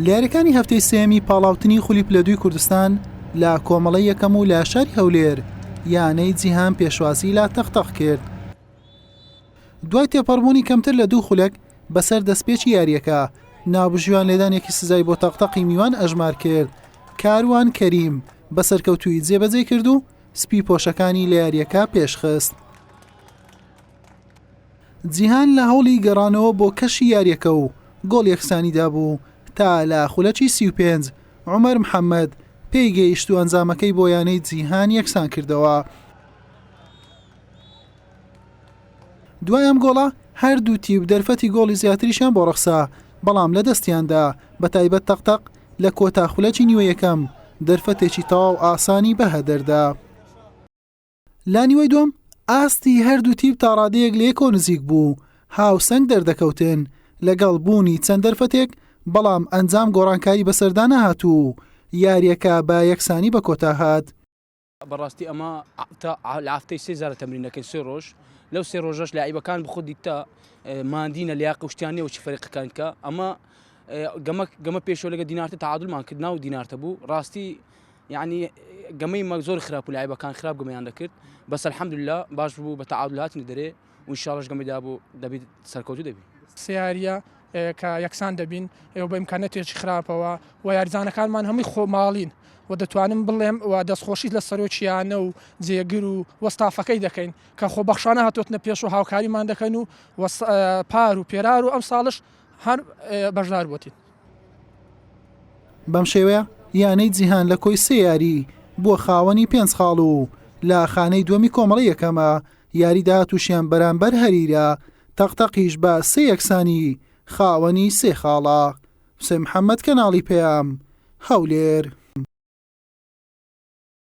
لەیاریەکانی هەفتەی سێیەمی پاڵاوتنی خولی پلە دووی کوردستان لە کۆمەڵە یەکەم و لە شاری هەولێر یانەی جیهان پێشوازی لە تەقتەق کرد دوای تێپەڕبوونی کەمتر لە دوو خولەک بەسەر دەستپێکی یاریەکە نابژیوان لێدانێکی سزای بۆ تەقتەقی میوان ئەژمار کرد کاروان کەریم بە سەرکەوتوی جێبەجێ کرد و سپی پۆشەکانی لە یاریەکە پێشخست جیهان لە هەوڵی گەڕانەوە بۆ کەشی یارییەکە و گۆڵ یەکسانیدا بوو تا لە خولەکی سی و پێنج عومەر محەمەد پێی گەیشت و ئەنجامەکەی بۆ یانەی جیهان یەکسان کردەوە. دوای ئەم گۆڵە هەردوو تیپ دەرفەتی گۆڵی زیاتریشیان بۆ ڕەخسا بەڵام لە دەستیاندا بە تایبەت تەقتەق لە کۆتا خولەکی نیوە یەکەم دەرفەتێکی تەواو ئاسانی بەهەدەردا. لانیوەی دووەم ئاستی هەردوو تیپ تاڕادەیەک لەیەکەوە نزیک بوو و هاوسەنگ دەردەکەوتن لەگەڵ بوونی چەند دەرفەتێک، بەڵام ئەنجام گۆڕانکاری بەسەردا نەهات و یاریەکە بە یەکسانی بەکۆتا هات. بەڕاستی ئەمە تا ئافتەی سێ جارە تەمرین دەکەین سێ ڕۆژ لەو سێ ڕۆژەش لاعیبەکان بخۆدی تا مادینە لە قوشتیانە و چ فەرقەکان کە ئەمە گەمە گەمە پێشۆ لەگە دینارتە تعادلمان کرد ناو دینارتە بوو ڕاستی یەعنی گەمەی مەک زۆر خراپ و لایبەکان خراپ گەمیان دەکرد بەس الحمدللە باش بوو بە تعادل هاتنە دەرێ و انشاءاللەش گەمەی دابوو دەبیت سەرکەوتوو دەبی سێ یارییە کە یەکسان دەبین ئێوە بە ئیمکانەتێکی خراپەوە و یاریزانەکانمان هەمووی خۆماڵین و دەتوانم بڵێم و دەستخۆشیت لە سەرۆکیانە و جێگر و وەستافەکەی دەکەین کە خۆ بەخشانە هاتوتنە پێش و هاوکاریمان دەکەن و پار و پێرار و ئەم ساڵش هەر بەشدار بووتین بەم شێوەیە یانەی جیهان لە کۆی سێ یاری بووە خاوەنی پێنج خاڵ و لە خانەی دووەمی کۆمەڵی یەکەمە یاری داهاتووشیان بەرامبەر هەریرە تەقتەقیش بە سێ یەکسانی خاوەنی سێ خاڵە حسێن محەممەد کەناڵی پەیام هەولێر